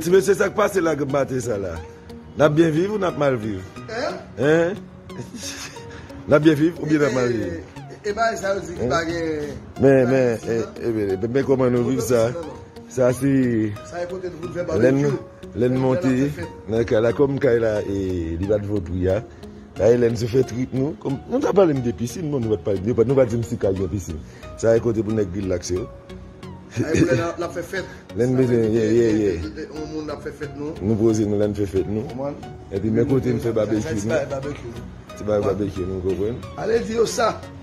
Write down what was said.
Ti mesye sak pase la gen maten sa la Nap byen viv ou nap mal viv Hein Nap byen viv ou byen nap mal viv E ba e sa yo di ki pa gen Men men e bebe men koman nou viv sa Sa si Sa e pote nou pou nou fè barbecue Lène monte nan kay la kòm kay la li pat vo pri a la Elène sou fè trip nou kòm nou ta pale m de piscine bon nou pat pale de nou pat di m si kay gen piscine sa e kote pou nèg rilaks yo Lène bezwen ye ye ye nou poze nou la n fè fèt nou epi men kote n fè babekyou nou ti bagay babekyou nou konprann.